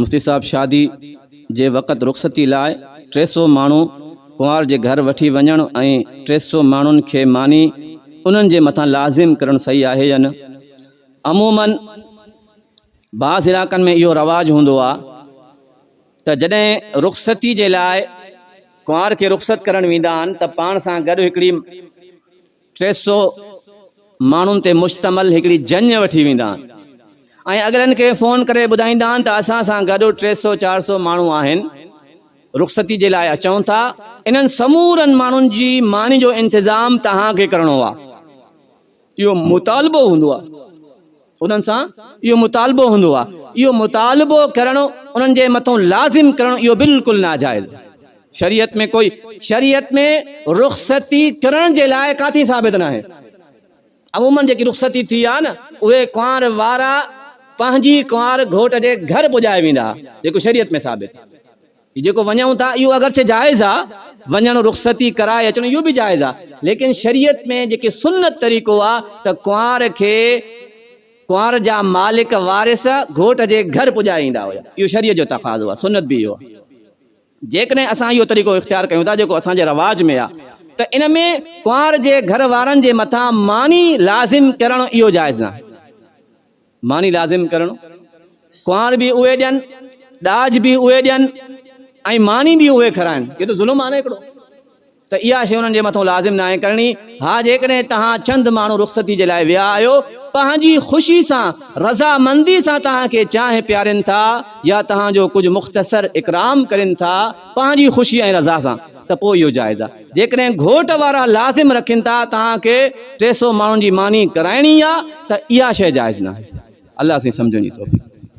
مفتي صاحب شادي جي وقت رخصتي لاء ٽي سؤ ماڻهو ڪنوار جي گهر وٺي وڃڻ ۽ ٽي سؤ ماڻهن کي ماني انهن جي مٿان لازم ڪرڻ صحيح آهي يا نه؟ عموماً بعض علائقن ۾ اهو رواج هوندو آهي ته جڏهن رخصتي جي لاء ڪنوار کي رخصت ڪرڻ ويندا آهن ته پاڻ سان گڏ هڪڙي ٽي سؤ ماڻهن تي مشتمل هڪڙي جڃ وٺي ويندا آهن ۽ اڳلن کي فون ڪري ٻڌائيندا آهن ته اسان سان گڏ ٽي سؤ چار سؤ ماڻهو آهن رخصتي جي لاء اچون ٿا انهن سمورن ماڻهن جي ماني جو انتظام توهان کي ڪرڻو آهي اهو مطالبو هوندو آهي انهن سان اهو مطالبو هوندو آهي. اهو مطالبو ڪرڻ انهن جي مٿان لازم ڪرڻ اهو بلڪل ناجائز آهي. شريعت ۾ ڪوئي شريعت ۾ رخصتي ڪرڻ جي لاء ڪاٿي ثابت ناهي. عمومن جيڪي رخصتي ٿي آهي نه اهي ڪنوار وارا پنهنجي ڪنوار گهوٽ جي گهر پڄائي ويندا جيڪو شريعت ۾ ثابت آهي. هي جيڪو وڃون ٿا اهو اگرچه جائز آ وڃڻ رخصتي ڪرائي اچڻ اهو به جائز آ ليڪن شريعت ۾ جيڪي سنت طريقو آ ته ڪنوار کي ڪنوار جا مالڪ وارث گهوٽ جي گهر پڄائي ايندا هيا اهو شريعت جو تقاضو آ سنت به اهو آ جيڪڏهن اسان اهو طريقو اختيار ڪيون ٿا جيڪو اسان جي رواج ۾ آ ته ان ۾ ڪنوار جي گهر وارن جي مٿان ماني لازم ڪرڻ اهو جائز ناهي. ماني لازم ڪرڻ، ڪنوار به اهي ڏين، ڏاج به اهي ڏين ۽ ماني به اهي کارائن، اهو ته ظلم آهي نه هڪڙو، ته اها شيء انهن جي مٿان لازم ناهي ڪرڻي، ها جيڪڏهن توهان چند ماڻهو رخصتي جي لاء ويا آهيو، پنهنجي خوشي سان، رضامندي سان توهان کي چانهه پيارين ٿا يا توهان جو ڪجهه مختصر اڪرام ڪرين ٿا، پنهنجي خوشي ۽ رضا سان، ته پوء اهو جائز آهي. جيڪڏهن گهوٽ وارا لازم رکين ته توهان کي ٽي سؤ ماڻهن جي ماني ڪرائڻي آهي ته اها شيء جائز ناهي. الله سائين سمجهڻ جي توفيق ڏي.